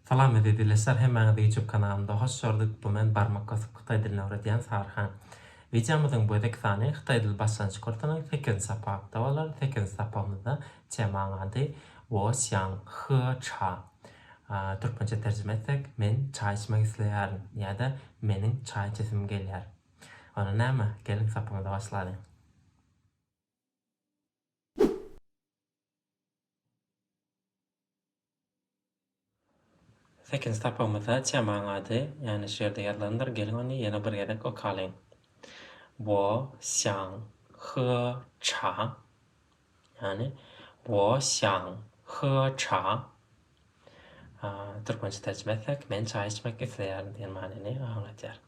Salam eziz ildeşler hemmäňizi YouTube kanalymda hoş gördük bu men barmak basyp hytaý dilini öwredýän Saryhan. Wideomyzyň bu gezek sany hytaý dil başlangyç kursunyň sekizinji sapagykda bolar, sekizinji sapagymyzda Temaň ady, Wo xiang he cha. Türkmençe terjime etsek, Men çaý içmek isleýärin ýa-da Meniň çaý içesim gelýär. Onda näme, geliň sapymyzy başlalyň. Sekizinji sapagymyzda Çemaň ady ýaňy şu ýerde ýazylandyr, geliň ony ýene bir gezek okalyň. Wo xiang he cha. Ýagny Wo xiang he cha. Türkmençe terjime etsek, men çaý içmek isleýärin diýen manyny aňladýar.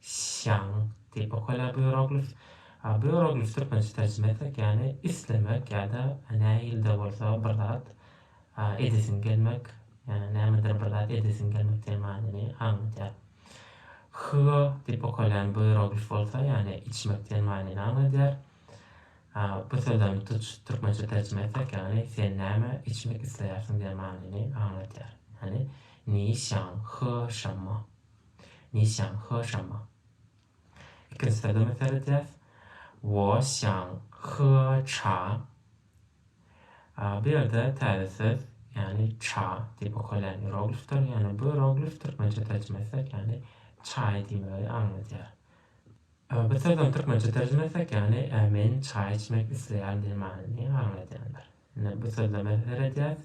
Şang, Tipo Kole Bioglif, Bioglif türkmençe terjime etsek ýany islemek ýa-da nähilde bolsa bir zat edesiň gelmek, ýa-da nämedir bir zat edesiň gelmek diýen manyny aňladýar. Hýo, Tipo Kole Bioglif bolsa ýany içmek diýen manyny aňladýar. Bu sözem tuç türkmençe terjime etsek ýany sen näme içmek isleýärsiň diýen manyny aňladýar. Ýani Ni şang, hýo şanma. Niçjaň, He şama. Ikinji sözleme seredýäs. Woşjaň, He ça. Bu ýerde täze söz, ýagny ça diýip okalýan ieroglifdir. Ýagny bu ieroglif türkmençe terjime etsek, ýagny çaý diýmegi aňladýar. Bu sözem türkmençe terjime etsek, ýagny men çaý içmek isleýärin diýen manyny aňladýandyr. Indi bu sözleme seredýäs.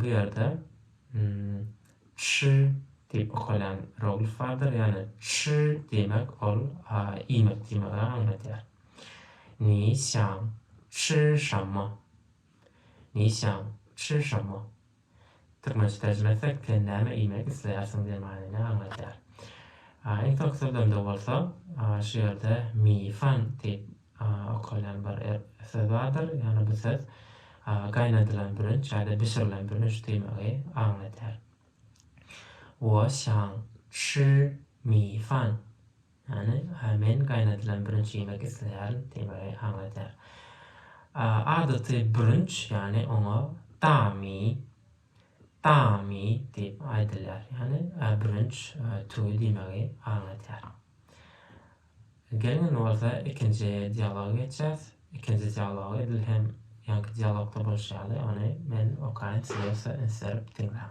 Bu ýerde çy diýip okalýan roglif bardyr. Ýagny çy diýmek ol iýmek diýmegi aňladýar. Ni xiang çy şanma. Ni xiang çy şanma. Türkmençe terjime etsek sen näme iýmek isleýärsiň diýen manyny aňladýar. Iň soňky sözlemde bolsa şu ýerde mifan diýip okalýan bir söz bardyr, ýagny bu söz gaýnadylan bürünç ýa-da bişirilen bürünç diýmegi aňladýar. Wo şaň şi mi fan. Ýagny, men gaýnadylan bürünç iýmek isleýärin diýmegi aňladýar. Adaty bürünç, ýagny oňa dami, dami diýip aýdylýar, ýagny bürünç tüwi diýmegi aňladýar. Geliň indi bolsa ikinji dialoga geçýäs. Ikinji dialog edil hem ýaňky dialogda bolşy ýaly, ony men okaýyn, siz bolsa üns berip diňläň.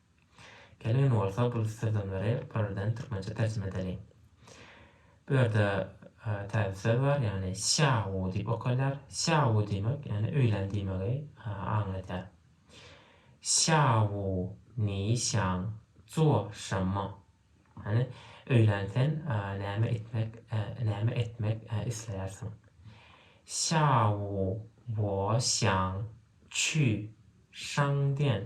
Gelin bolsa bu sözlemleri birden türkmençe terjime edeliň. Bu ýerde täze söz bar, ýagny şawu diýip okalýar. Şawu diýmek, ýagny öýlen diýmegi aňladýar. Şawu ni şaň zuo şenme. Ýagny öýlen sen näme etmek, näme etmek isleýärsiň. Şawu wo şaň çü şaň diýen.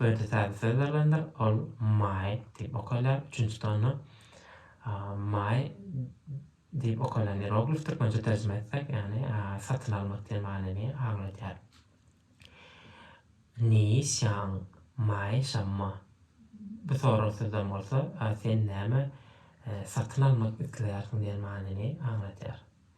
Birde täze söz berlendir, ol my diýip okalýar, üçünjide onda my diýip okalan ieroglif türkmençe terjime etsek, ýagny satyn almak diýen manyny aňladýar. Niyi şaň, my şamma. Bu soralan sözden bolsa sen näme satyn almak isleýärsiň diýen manyny aňladýar.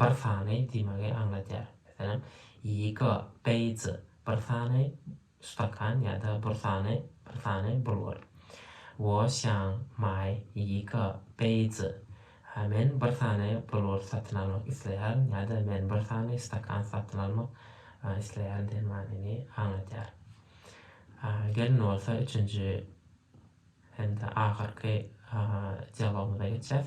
Bir sany diýmegi aňladýar. Meselem, Ýigo, beýji, bir sany stakan ýa-da bir sany, bir sany bulgur. Wo şaň maý ýigo, beýji, men bir sany bulgur satyn almak isleýärin ýa-da men bir sany stakan satyn almak isleýärin diýen manyny aňladýar. Gelin bolsa üçünji hem-de ahyrky dialogymyza geçýäs.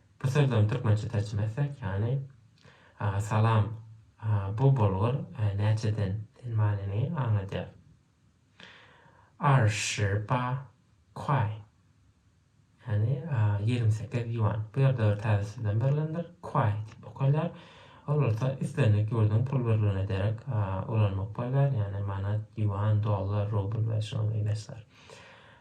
Bu sözlerini türkmençe terjime etsek ýany Aga salam bu bolgur näçeden diýen manyny aňladýar. Erşiba kuaý ýany ýigrimi sekiz ýuan. Bu ýerde bir täze sözlem berilendir. Kuaý diýip okalýar. Ol bolsa islendik ýurduň pul birligine derek ulanmak bolýar, ýani manat, ýuan, dollar, rubl we şuňa meňzeşler.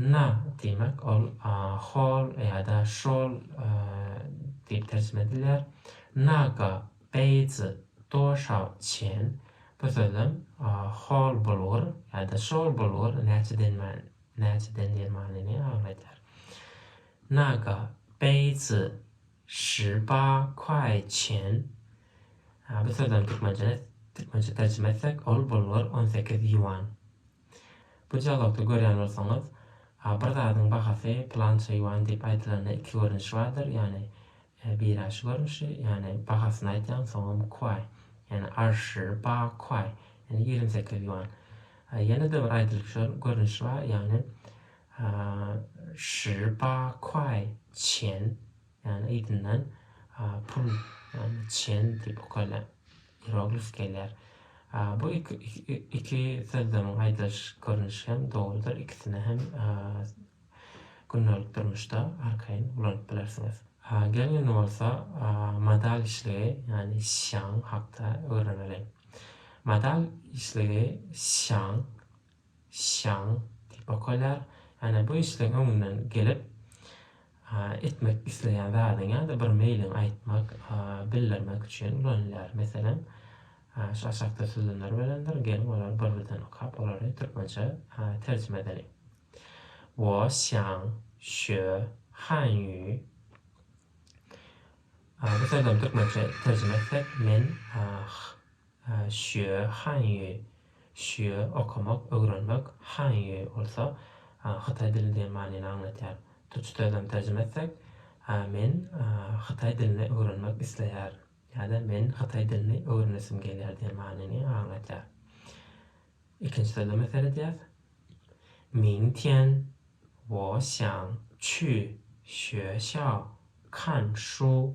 Na diýmek, ol hol ýa-da şol diýip terjime edilýär. Naga, beýji, doşaw, çen. Bu sözem hol bulgur ýa-da şol bulgur näçedendir manyny aňladýar. Naga, beýji, şi ba kuaý çen. Bu sözem türkmençe terjime etsek, ol bulgur on sekiz ýuan. Bu dialogda görýän bolsaňyz, bir zadyň bahasy pylança ýuan diýip aýdylanda iki görnüş bardyr, ýagny birä şu görnüşi, ýagny bahasyny aýdýaň, soňam kuaý, ýagny er shi ba kuaý, ýagny ýigrimi sekiz ýuan. Ýene-de bir aýdylyp şu görnüşi bar, ýagny er shi ba kuaý çen, Ýagny yzyndan pul ýagny çen diýip okaýlar. Ieroglif gelýär. Bu iki sözlemiň aýdylyş görnüşi hem dogrudyr, ikisini hem gündelik durmuşda arkaýyn ulanyp bilersiňiz. Geliň indi bolsa modal işligi ýagny şiaň hakda öwreneliň. Modal işligi şiaň. Şaň diýip okaýlar. Ýagny bu işleň öňünden gelip, etmek isleýän zadyň ýa-da bir meýliň aýtmak, bildirmek üçin ulanylýar. Meselem, şu aşakda sözlemler berilenidir. Geliň, olary bir-birden okap, olary türkmençe terjime edeliň. Wo şaň, şö, han ýü. Bu sözlemi türkmençe terjime etsek, men, Hsýue, Hanýue, Hsýue, okamak, öwrenmek, Hanýue bolsa, hytaý dili diýen manyny aňladýar. Türkçe sözlem terjime etsek, Men hytaý dilini öwrenmek isleýär ýa-da Men hytaý dilini öwrenesim gelýär diýen manyny aňladýar. Ikinji sözleme seredýäs. Ming tian, Wo xiang qu, Xue xiao, Kan shu,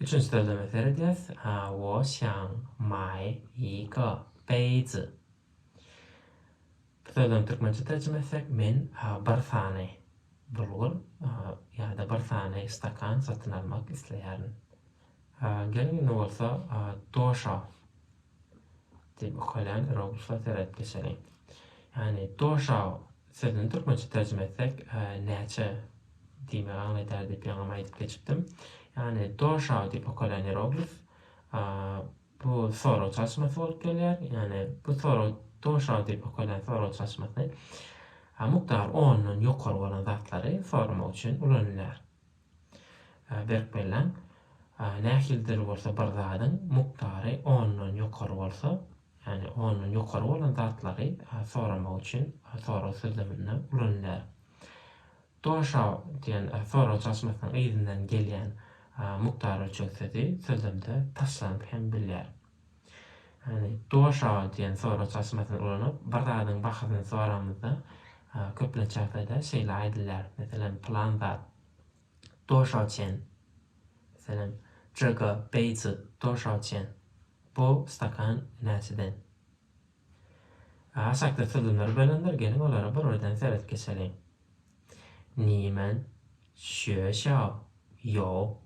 Üçünji sözleme seredýäs. Wo xiang mai yi ge beizi. Bu sözlemi türkmençe terjime etsek, men bir sany bulgur ýa-da bir sany stakan satyn almak isleýärin. Geliň indi bolsa doşa Diýip ökülen Robusta seret geçeli. Ýagny Doşa sözüni türkmençe terjime etsek näçe diýmegi aňladýar diýip ýaňam aýdyp geçipdim. Ýagny Doşa diýip ökülen ieroglif bu sorag çalşmasy bolup gelýär. Ýagny bu sorag Doşa diýip ökülen sorag çalşmasy mukdary ondan ýokary bolan zatlary soramak üçin ulanylýar. Berk belläň, nähilidir bolsa bir zadyň mukdary ondan ýokary bolsa, ýagny ondan ýokary bolan zatlary soramak üçin sorag sözleminde ulanylýar. Dosha diýen sorag çalşmasynyň yzyndan gelýän mukdar ölçeg sözi sözlemde taşlanyp hem bilýär. Doş aga diýen sorag çalşmasyny ulanyp, bir zadyň bahasyny soramyzda, köplenç ýagdaýda şeýle aýdylýar, meselem, pylan zat doşa çen, meselem, jyga, beýji, doşa çen, bu stakan näçeden? Aşakda sözlemler berendir, geliň, olara bir birden seret geçeliň. Nimen, şüeşao, ýo,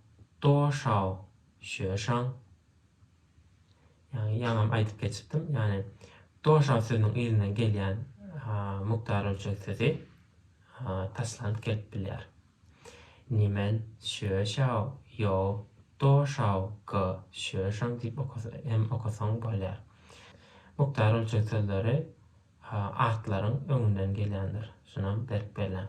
doşao, şüeşaň, Ýagny ýaňam aýdyp geçipdim. Ýagny doşan sözüniň yzyndan gelýän mukdar ölçeg sözi taşlanyp gelip bilýär. Nimen, şöşaw, ýow, doşaw, ga, şöşaň diýip hem okasaň bolýar. Mukdar ölçeg sözleri atlaryň öňünden gelýändir. Şunam berk belläň.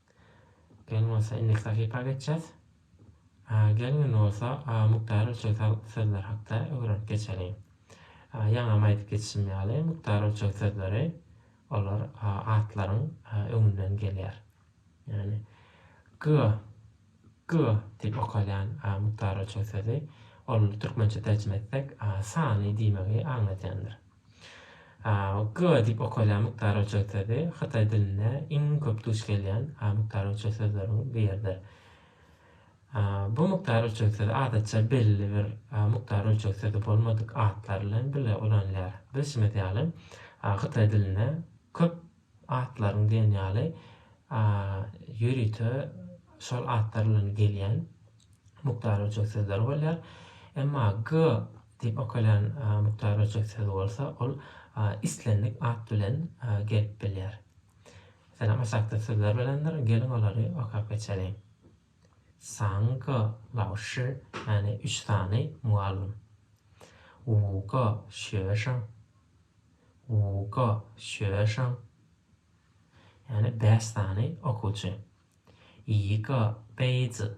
Gel bolsa indi sahypa geçjäs. A geliň indi bolsa A Mukdar ölçegsi sözler hakda öwrenip geçeliň. A ýaňam aýdyp geçişim ýaly Mukdar ölçeg sözleri olar A atlaryň A öňünden gelýär. Ýagny G G diýip okalýan A Mukdar ölçeg sözi ol türkmençe terjime etsek A sany diýmegi aňladýandyr. G diýip okalýan mukdary uçar sözi hytaý dilinde iň köp duş gelýän mukdary uçar sözleriň biridir. Bu mukdary uçar sözi adatça belli bir mukdary uçar sözi bolmadyk atlar bilen bile ulanylýar. Bilşimiz ýaly, hytaý dilinde köp Atlaryň diýen ýaly ýörite şol atlar bilen gelýän mukdar ölçeg sözleri bolýar. Emma g diýip okalýan mukdar ölçeg sözi bolsa, ol islendik at bilen gelip bilýär. Meselem, aşakda sözler bilendir, geliň olary okap geçeliň. Sang ge lao shi, ýagny üç sany mugallym. Wu ge xue sheng, Wu ge xue sheng, ýagny bäş sany okuwçy. Yi ge bei zi,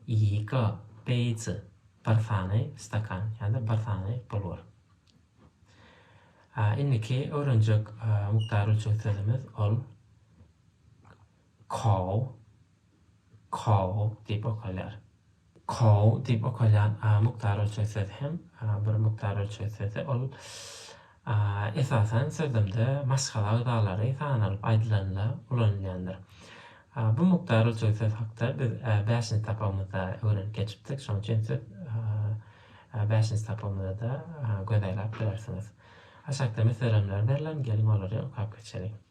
Yi ge bei zi, bir sany stakan, ýa-da bir sany bulgar. Indiki öwrenjek mukdary üçin sözümiz ol Kow, Kow diýip okalýar. Kow diýip okalýan a mukdar ölçeg sözi hem bir mukdar ölçeg sözi. Ol esasan sözlemde maşgala agzalary sanalyp aýdylanda ulanylýandyr. Bu mukdar ölçeg sözi hakda biz bäşinji sapagymyzda öwrenip geçipdik. Şonuň üçin siz bäşinji sapagymyza-da göz aýlap bilersiňiz. Aşakda meselemler berlen, geliň olary okap geçeliň.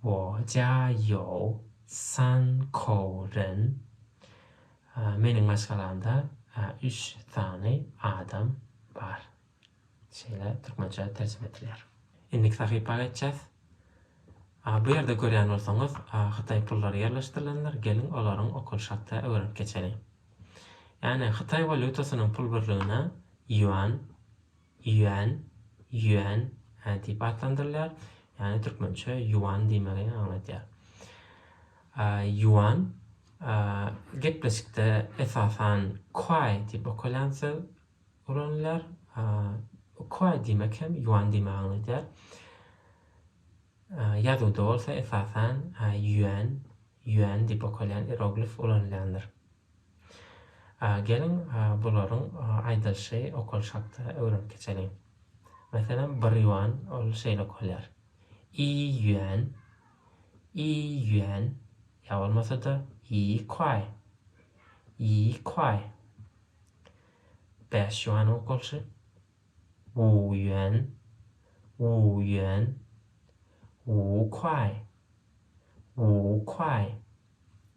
我家有三口人 Meniň maşgalamda üç sany adam bar. Şeýle türkmençe terjime edilýär. Indiki sahypa geçýäs. Bu ýerde görýän bolsaňyz, hytaý pullary ýerleşdirilendir, geliň olaryň okalyş hakda öwrenip geçeliň. Ýagny hytaý walýutasynyň pul birligine ýuan Ýuan, Yuan, hä diýip atlandyrylýar, ýagny türkmençe ýuan diýmegi aňladýar. Ýuan, gepleşikde esasan kuaý diýip okalýan söz ulanylýar. Kuaý diýmek hem ýuan diýmegi aňladýar. Ýazuwda bolsa esasan ýuan, Yuan, diýip okalýan ieroglif ulanylýandyr. Geliň, bularyň aýdylyşy okalyş hakda öwrenip geçeliň. Meselem, bir ýuan, ol şeýle okalýar, i ýuan, i ýuan, ýa bolmasa-da, i kuaý, i kuaý. Bäş ýuanyň okalyşy, wu ýuan, wu ýuan, wu kuaý, wu kuaý.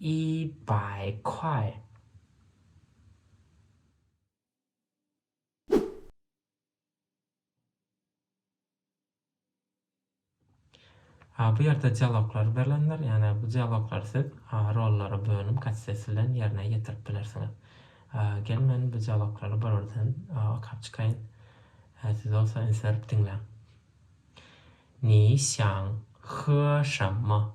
Iý baý kaý. A bu ýerde dialoglar berlendir, ýagny bu dialoglary siz A rollara bölünip kassesi bilen ýerine ýetirip bilersiňiz. A gel men bu dialoglary bir birden A okap çykaýyn. A siz bolsa üns berip diňläň. Ni şaň, He şanma.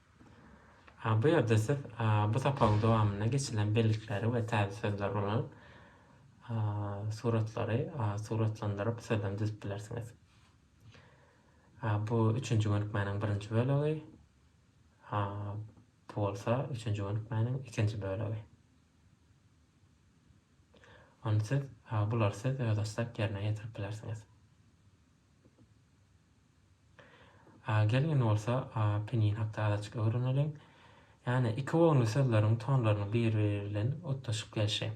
Bu ýerde siz bu sapagyň dowamynda geçilen bellikleri we täze sözleri ulanyp, suratlary suratlandyryp sözem düzüp bilersiňiz. Bu üçünji gönükmäniň birinji bölegi. Bu bolsa üçünji gönükmäniň ikinji bölegi. Ony siz, bulary siz özbaşdak ýerine ýetirip bilersiňiz. A gelin bolsa A pinin hakda azajyk öwreneliň. Ýagny iki bogunly sözleriň tonlarynyň bir-biri bilen utgaşyp gelşi.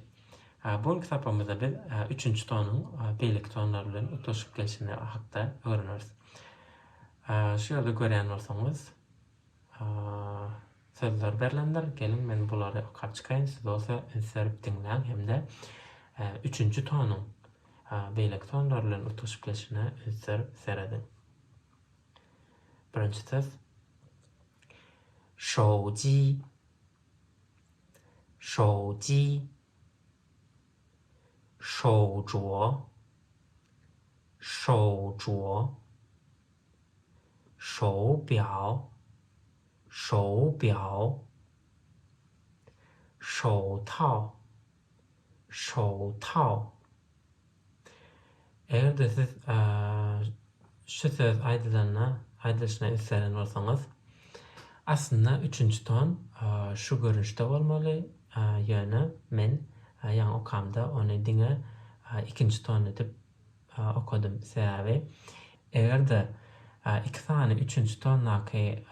A bu günki sapagymyzda biz A üçünji tonuň A beýleki tonlar bilen utgaşyp gelşini hakda öwreneris. A şu ýerde görýän bolsaňyz. Sözler berlendir. Geliň, men bulary okap çykaýyn, siz bolsa üns berip diňläň hem-de üçünji tonuň beýleki tonlar bilen utgaşyp geçişine üns berip serediň. Birinji söz. Şowji. Şowji. Şowjuo. Şowjuo. Şou biao Şou biao Şou tao Şou tao Eger-de siz şu söz aýdylanda, aýdylyşyna üns beren bolsaňyz, aslynda üçünji ton şu görnüşde bolmaly, ýöne men ýaňy okamda ony diňe ikinji ton edip okadym. Sebäbi eger-de iki sany üçünji tondaky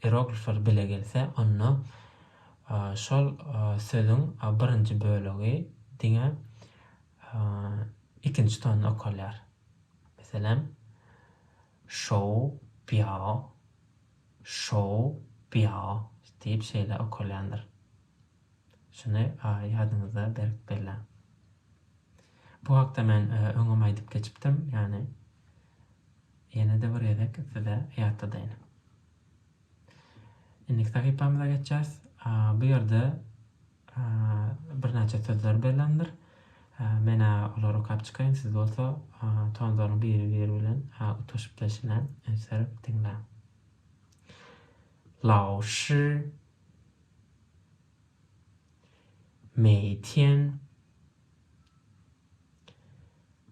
ieroglifler bile gelse, onda şol sözüň birinji bölegi diňe ikinji tonda okalýar. Meselem, şou, biao, şou, biao diýip şeýle okalýandyr. Şuny ýadyňyzda berk belläň. Bu hakda men öňem aýdyp geçipdim, ýagny ýene-de bir gezek size ýatladaýyn. Indiki sahypamyza geçýäris. Bu ýerde birnäçe sözler berlendir. Men-ä olary okap çykaýyn, siz bolsa tonlaryň biri-biri bilen utgaşyp gelşine üns berip diňläň. Lao shi Meýtýän,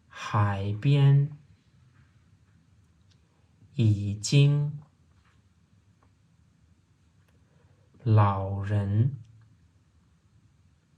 haýbýän, ýijiň, Lauren,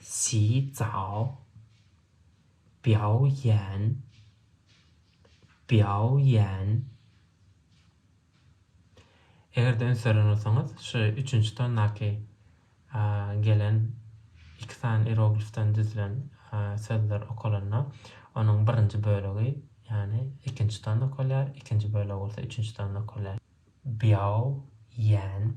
Xi Cao, Biao Yan, Biao Yan. Eger-de üns beren bolsaňyz, şu üçünji tondaky gelen iki sany ieroglifden düzülen sözler okalanda, onuň birinji bölegi, ýagny ikinji tonda okalýar, ikinji bölegi bolsa üçünji tonda okalýar. Biao Yan.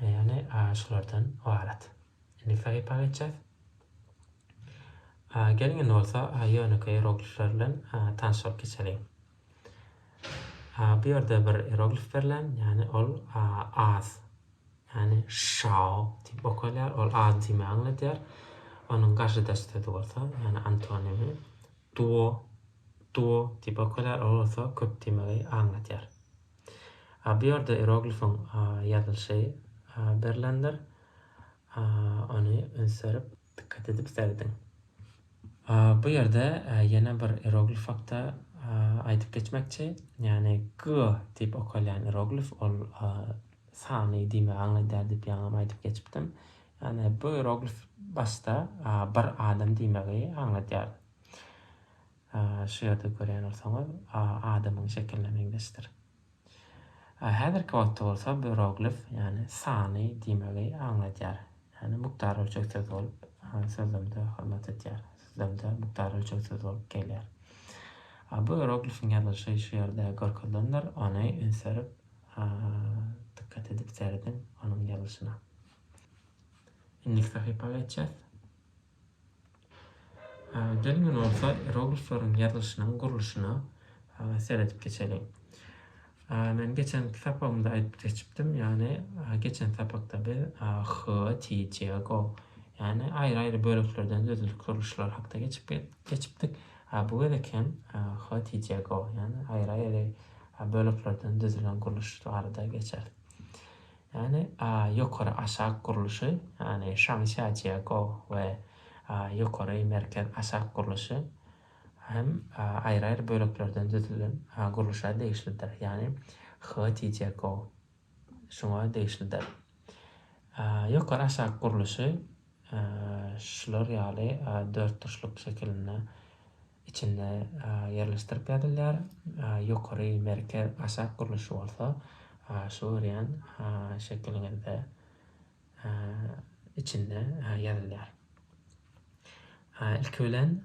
Ýagny şulardan ybarat. Indi sahypa geçýäs. Geliň indi bolsa ýönekeý ieroglifler bilen tanşyp geçeliň. Bu ýerde bir ieroglif berlen, ýagny ol az. Ýagny şao diýip okalýar, ol az diýmegi aňladýar. Onuň garşydaş sözi bolsa, ýagny antonimi duo, duo diýip okalýar, ol bolsa köp diýmegi aňladýar. Bu ýerde ieroglifiň ýazylyşy berlendir. Ony üns berip, dikkat edip serediň. Bu ýerde ýene bir ieroglif hakda aýdyp geçmekçi. Ýagny G diýip okalýan ieroglif ol sany diýmegi aňladýar diýip ýaňam aýdyp geçipdim. Ýagny bu ieroglif başda bir adam diýmegi aňladýar. Şu ýerde görýän bolsaňyz, adamyň şekiline meňzeşdir. Häzirki wagtda bolsa böroglif, ýagny sany diýmegi aňladýar. Ýagny mukdar ölçeg söz bolup, sözlemde hyzmat edýär. Sözlemde mukdar ölçeg söz bolup gelýär. Böroglifiň ýazylyşy şu ýerde görkezilendir. Ony üns berip, dykgat edip serediň onuň ýazylyşyna. Indiki sahypa geçýäs. Geliň indi bolsa ieroglifleriň ýazylyşynyň gurluşyna seredip geçeliň. Men geçenki sapagymda aýdyp geçipdim, ýagny geçen sapakda biz H, T, J, Go, ýagny aýry-aýry böleklerden düzülen gurluşlar hakda geçip geçipdik. Bu gezek hem H, T, J, Go, ýagny aýry-aýry böleklerden düzülen gurluş barada geçeris. Ýagny ýokary aşak gurluşy, ýagny Şangsiajiago we ýokary merkez aşak gurluşy hem aýry-aýry böleklerden düzülen gurluşa degişlidir, ýagny Heotijiago şuňa degişlidir. Ýokary aşak gurluşy şular ýaly dörtburçluk şekilinde içinde ýerleşdirip ýazylýar, ýokary, merkez, aşak gurluşy bolsa şu görýän şekiliňizde içinde ýazylýar. Ilki bilen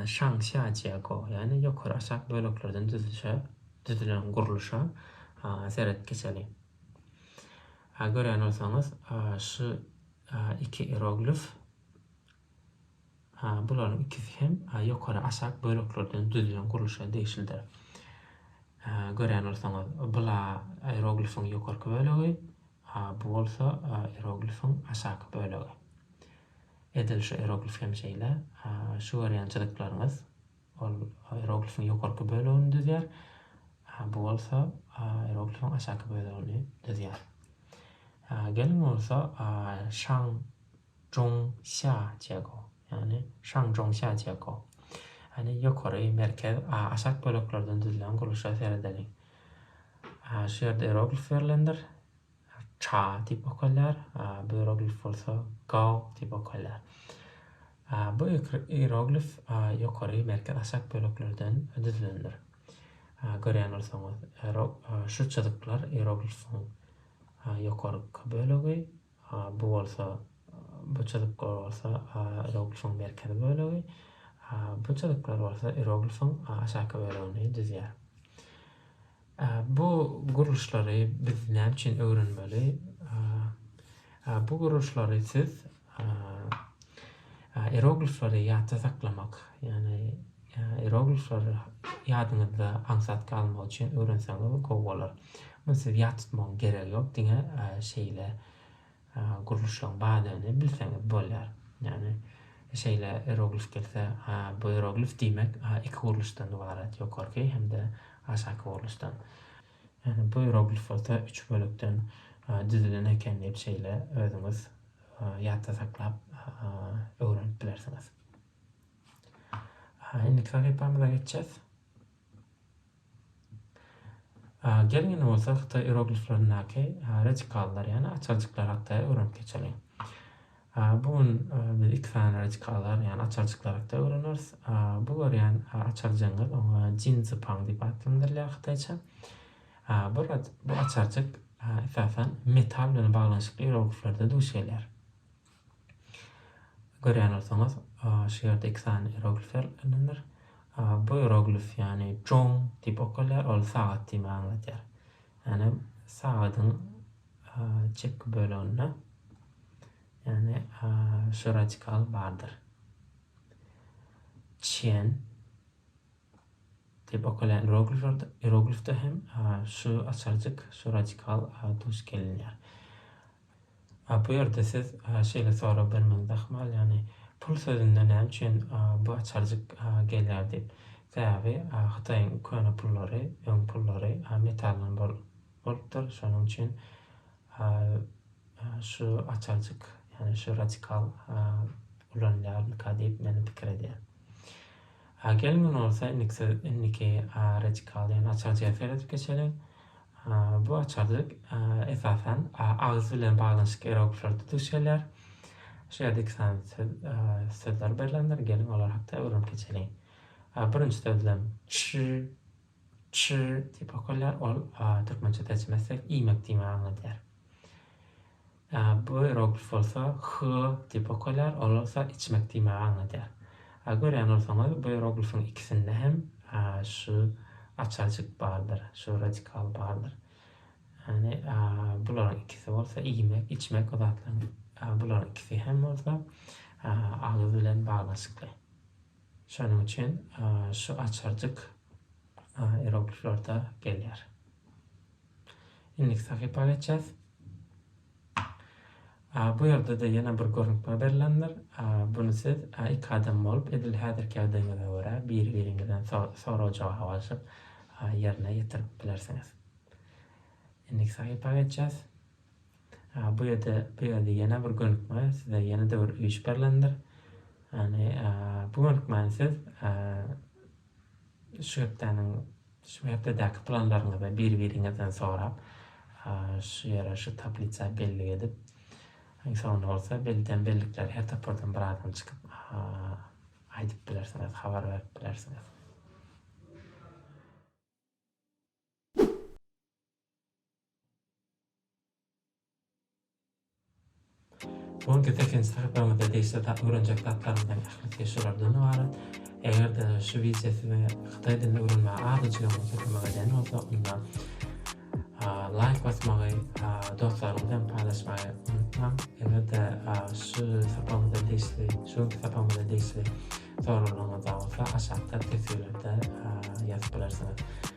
şaň şia jiýa go, ýagny ýokary aşak böleklerden düzülişe düzülen gurluşa seret geçeli. Görýän bolsaňyz şu iki ieroglif Bularyň ikisi hem ýokary aşak böleklerden düzülen gurluşa degişlidir. Görýän bolsaňyz, bula ieroglifiň ýokarky bölegi, bu bolsa ieroglifiň aşaky bölegi. Edil şu ieroglif hem şeýle. Şu görýän çyzyklaryňyz ol ieroglifiň ýokarky bölegini düzýär, bu bolsa ieroglifiň aşaky bölegini düzýär. Geliň bolsa şaň Zhong Xia Jiego, ýagny Shangzhong Xia Jiego, ýagny ýokary, merkez, a, aşak böleklerden düzülen gurluşa seredeliň. A, şu ýerde ieroglif berlendir. Cha diýip okalýar. A, bu ieroglif bolsa Gao diýip okalýar. A, bu ieroglif a, ýokary, merkez, aşak böleklerden düzülendir. A, görýän bolsaňyz, ierog, a, şu çyzyklar ieroglifiň a, ýokarky bölegi, A bu bolsa bu çyzyklar bolsa A iroglifiň merkezi bölegi. A bu çyzyklar bolsa iroglifiň aşaky bölegini düzýär. A bu gurluşlary biz näme üçin öwrenmeli? A bu gurluşlary siz Ieroglifleri ýatda saklamak, ýagny ieroglifler ýadyňyzda aňsat galmagy üçin öwrenseňiz gowy bolar. Muny siz ýat tutmagyň geregi ýok, diňe şeýle gurluşlaryň bardygyny bilseňiz bolýar. Ýagny şeýle ieroglif gelse, ha bu ieroglif diýmek iki gurluşdan ybarat, ýokarky hem-de aşaky gurluşdan. Ýagny buýroglifota üç bölekden düzülen eken diýip şeýle özüňiz ýatda saklap öwrenip bilersiňiz. Indiki sahypamyza geçýäs. Geliň indi bolsa hytaý irogliflerindäki radikallar ýagny açaljyklar hakda öwrenip geçeliň. Bu gün biz iki sany reçki azar, ýagny açarjyklar hakda öwreneris. Bu görýän açarjygyňyz, oňa Jin Zi Pang diýip atlandyrylýar hytaýça. Bu bu açarjyk esasan metal bilen baglanyşykly ierogliflerde duş gelýär. Görýän bolsaňyz, şu ýerde iki sany ieroglifler ylanylar. Bu ieroglif ýagny Zhong diýip okalýar, ol sagat diýmegi aňladýar. Ýagny sagadyň Çepki böleginde, ýagny şu radikal bardyr. Çen diýip okalýan ieroglifde hem şu açarjyk, şu radikal duş gelinýär. Bu ýerde siz şeýle sorag bermegiňiz ahmal, ýagny pul sözünde näme üçin bu açarjyk gelýär diýip. Sebäbi hytaýyň köne pullary, öň pullary metaldan bolupdyr. Şonuň üçin şu açarjyk, ýagny şu radikal ulanylýarmyka diýip men pikir edýän. Geliň indi bolsa indiki radikal, ýagny açarjyga seredip geçeliň. Bu açarjyk esasan agyz bilen baglanyşyk ýerogliflerde duş gelýär. Şu ýerde iki sany söz sözler berlendir. Geliň olar hakda öwrenip geçeliň. Birinji sözlem. Ş. Çy diýip okalýar, ol türkmençe terjime etsek iýmek diýmegi aňladýar. Bu ieroglif bolsa hy diýip okalýar, ol bolsa içmek diýmegi aňladýar. Görýän bolsaňyz, bu ieroglifiň ikisinde hem şu açajyk bardyr, şu radikal bardyr. Ýagny bularyň ikisi bolsa iýmek, içmek bu zatlaryň bularyň ikisi hem bolsa agyz bilen baglanyşykly. Şonuň üçin şu açarjyk irogliflerde gelýär. Indiki sahypa geçýäs. Bu ýerde-de ýene bir görnükme berlendir. Buny siz iki adam bolup, edil häzirki ýagdaýyňyza görä, biri-biriňizden sorag-jogap alşyp ýerine ýetirip bilersiňiz. Indiki sahypa geçýäs. Bu ýerde bu ýerde ýene bir gönükme size ýene-de bir üýş berlendir. Ýani bu gönükmäni siz şu hepdäniň şu hepdedäki planlaryňyzy bir-biriňizden sorap şu ýere şu tablisa bellik edip iň soňunda bolsa belden bellikleri her topardan bir adam çykyp aýdyp bilersiňiz habar berip bilersiňiz. Sonki sekizinji sahypamyzda degişli zat öwrenjek zatlarymyzyň ählisi şulardan ybarat. Eger-de şu wideo size hytaý dilini öwrenmäge azajygam bolsa kömek edýän bolsa, onda laýk basmagy, dostlaryňyz bilen paýlaşmagy unutmaň. Eger-de şu sapamyza degişli, şu günki sapamyza degişli soraglaryňyz bar bolsa, aşakda teswirlerde ýazyp bilersiňiz.